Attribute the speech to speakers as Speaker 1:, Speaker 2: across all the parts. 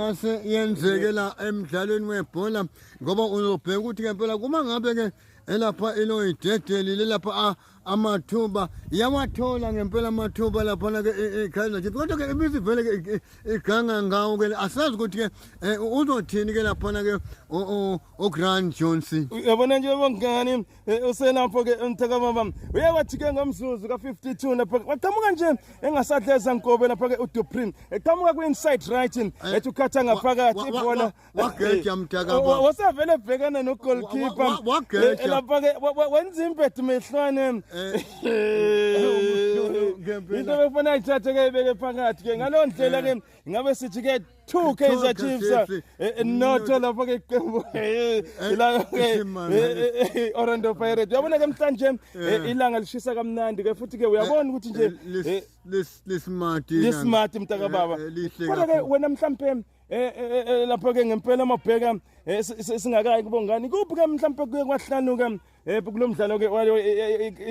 Speaker 1: yase yenzeke la emdlalweni webhola ngoba uzobheka ukuthi ngempela kuma ngabe ke elapha iloyidedeli lelapha ah, amathuba yawathola ngempela amathuba laphana ke iKaizer Chiefs kodwa ke ibisivele ke iganga ngawo ke asazi ukuthi ke eh, uzothini ke laphana ke uGrant Johnson yabona nje
Speaker 2: bangani Eh, uselapho ke umthaka baba uye wathi ke ngomzuzu ka52 lapha waqhamuka nje engasadleza nkobe lapha ke uDupree eqhamuka kwinside right eh, ethi ukhatha ngaphakathi ibhola wageja mthaka
Speaker 1: eh, baba wasavele ebhekana no
Speaker 2: goalkeeper wageja lapha ke wenza impedu mehlwane into bekufanele ithathe ke ibeke phakathi ke ngalondlela ke ngabe sithi ke Two Kaizer Chiefs eh, eh, notho lapho ke iqembu eh, la ke Orlando Pirates uyabona ke mhlanje ilanga lishisa kamnandi ke futhi ke uyabona ukuthi nje lismart
Speaker 1: lismart mntaka baba
Speaker 2: kodwa ke wena mhlambe Eh, eh, eh, lapho ke ngempela mabheka singakayi kubongani kuphi ke mhlawumbe kuye kwahlanuka Eh kulo mdlalo ke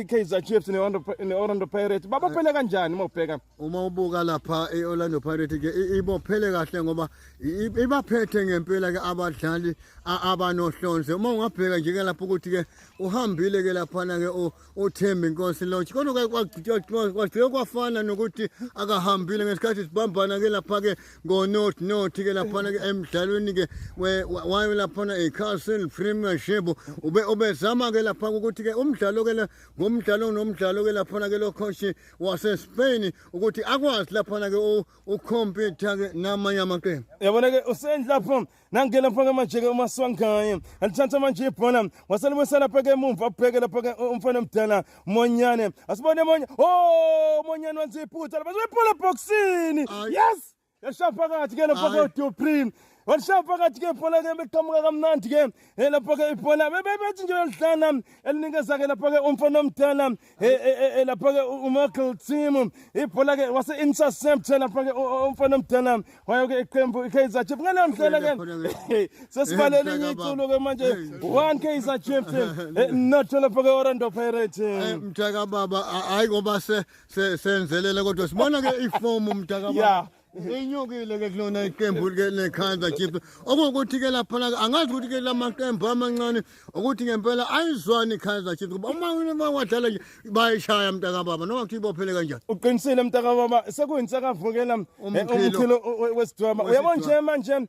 Speaker 2: iKaizer Chiefs ne-Orlando Pirates babophele kanjani uma ubheka? Uma ubuka lapha
Speaker 1: e-Orlando Pirates ke ibophele kahle ngoba ibaphethe ngempela ke abadlali abanohlonze. Uma ungabheka nje ke lapha ukuthi ke uhambile ke laphana ke uThembi Nkosi Lodge. Kodwa kwagcina kwafana nokuthi akahambile ngesikhathi sibambana ke lapha ke ngonothi nothi-ke laphana-ke emdlalweni-ke wayo laphana icastle premiership ube ubezama-ke lapha ukuthi-ke umdlalo-ke le ngomdlalo nomdlalo-ke laphana-ke lo khoshi wasespain ukuthi akwazi laphana-ke ukhompyutha-ke namanye amaqembu yabona-ke usendlapho
Speaker 2: nangena pha ke manje ke umaswangaye andithatha manje ibhola waselibuyisela pha ke emumva abheke lapha ke umfana omdala monyane asibone monye o oh, monyane wenza iphutha lapha ibhola ebhoksini yes yashaya phakathi ke lapha ke uduprim walishaya phakathi ke ibhola ke beqhamuka kamnandi ke eh, lapha ke ibhola bebethi nje yalidlana elinikeza ke lapha ke umfana omdala lapha-ke umichael team ibhola-ke wase-interceptor lapha-ke umfana omdala wayo-ke iqembu i-kaizer chief ngaleyo ndlela-ke sesibalele enye iculo-ke manje one kaizer chief not lapha-ke orlando pirate mntakababa
Speaker 1: hhayi ngoba senzelele kodwa sibona-ke ifomu mntakababa Inyukile ke kulona iqembu ke leKaizer Chiefs. Okungukuthi ke lapha la angazi ukuthi ke lamaqembu amancane ukuthi ngempela ayizwani iKaizer Chiefs kuba uma uma wadlala nje bayishaya mntaka baba noma kuthi ibophele kanjani. Uqinisile mntaka baba
Speaker 2: sekuyintsakavukela eh, umkhilo wesidwaba. Uyabona nje manje